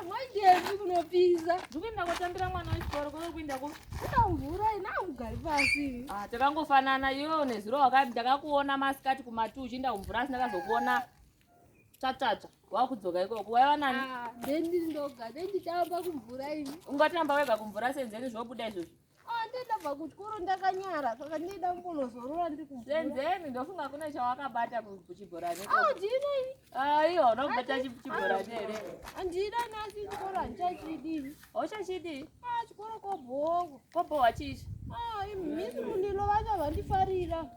Mwaidei kunopisa? Ndikuenda kotambira mwana wechikoro kuno kuenda ko. Utamvura ina ugari pasi. Ah, takangofanana yo nezuro wakati ndakakuona masikati kumatu uchienda kumvura asina kazokuona. Tsvatsvatsva, wakudzoka ikoko. Waiva nani? Ah, ndendi ndoga, ndendi tamba kumvura ini. Ungatamba wega kumvura senzeni zvobuda izvozvo. ndabva kuchikoro ndakanyara saka ndida kumbonozorora ndikuzenzeni ndofunga kune chawakabata kuchibhorani audinei aiwa ah, unakubata chibhorani here andida nasi chikoro handichachidii hauchachidii ah, chikoro kobhowa kobhowa chichi ah, misi mundilo vacho vandifarira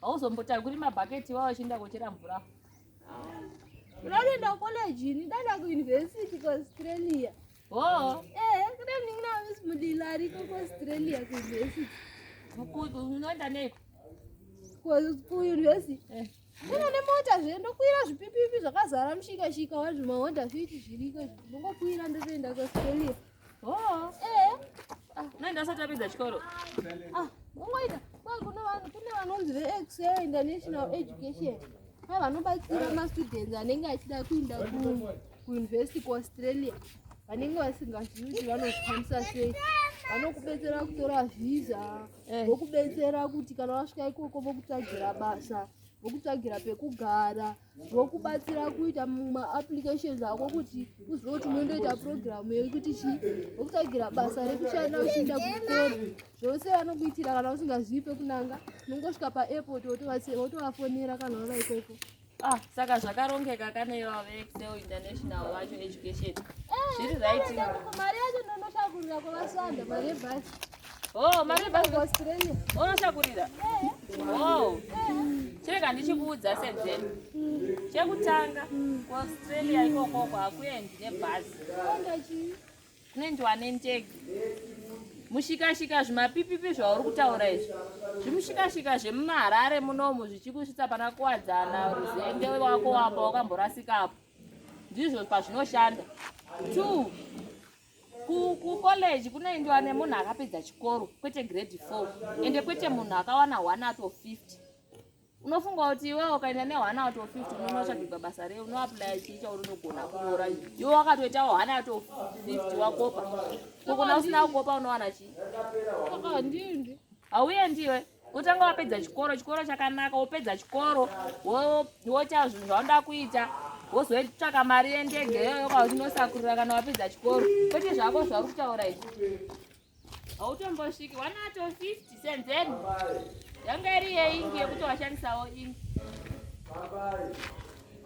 hauzombotakuri mabhaketi iwawo achienda kochera mvura ndanoenda kucollege ini ndaenda kuuniversity kuaustralia o oh. ee eh, kuda ndingi namis mudila ariko kuaustralia kuuniversity unoenda neiko kuuniversity eh. ina nemota zve ndokuira zvipipipi zvakazara mushikashika wazvimahonda fiti zviriko ndongokuira ndotoenda kuaustralia Oh, eh. Ah, nenda sati apedza chikoro. Ah, ungoita. Kwa kuna vanhu kune vanonzi veXA International Education. Ava vanobatsira mastudents anenge achida kuenda ku kuuniversity kuAustralia. Vanenge vasingazivi kuti vanozvikwanisa sei. Vanokubetsera kutora visa, eh. vokubetsera kuti kana wasvika ikoko vokutsvagira basa, vokutsvagira pekugara. vokubatsira kuita maapplications ako kuti uzive kuti unoindoita purogiramu yekuti chii vokutsvagira basa rekushanda uchiinda kukora zvose vanokuitira kana usingazivi pekunanga unongosvika paairport wotovafonera kana vava ikoko ah saka zvakarongeka kane vave excel international vacho education zviri right mari yacho ndonoshakurira kwavasanda mari yebhasi Oh, mari basi Australia. Unotakurira. Oh. Chirega ndichikuudza senzeni. Chekutanga ku Australia ikoko kwakuendi nebhazi. Kunoendiwa nendege. Mushikashika zvimapipipi zvauri kutaura izvi. Zvimushikashika zvemumaharare munomu zvichikusvitsa pana kuwadzana ruzende wako wamba wakamborasikapo. Ndizvo pazvinoshanda. Two. kucollege kunoendiwa nemunhu akapedza chikoro kwete grade four ende kwete munhu akawana one out of fifty unofunga kuti iwewe ukaenda neone out of fifty unonotsvagigwa basa rei unoaplya chii chaunonogona kunyora iwe wakatoitawo one out of fifty wakopa kokona usina kukopa unowana chii hauendi iwe kutanga wapedza chikoro chikoro chakanaka wopedza chikoro woita zvinhu zvaunoda kuita wozotsvaka mari yendege iyoyo kwauchinosakurira kana wapedza chikoro kwete zvako zvauri kutaura izvi hautombosviki wanato 50 senzeni yanga iri yeingi yekuti washandisawo ini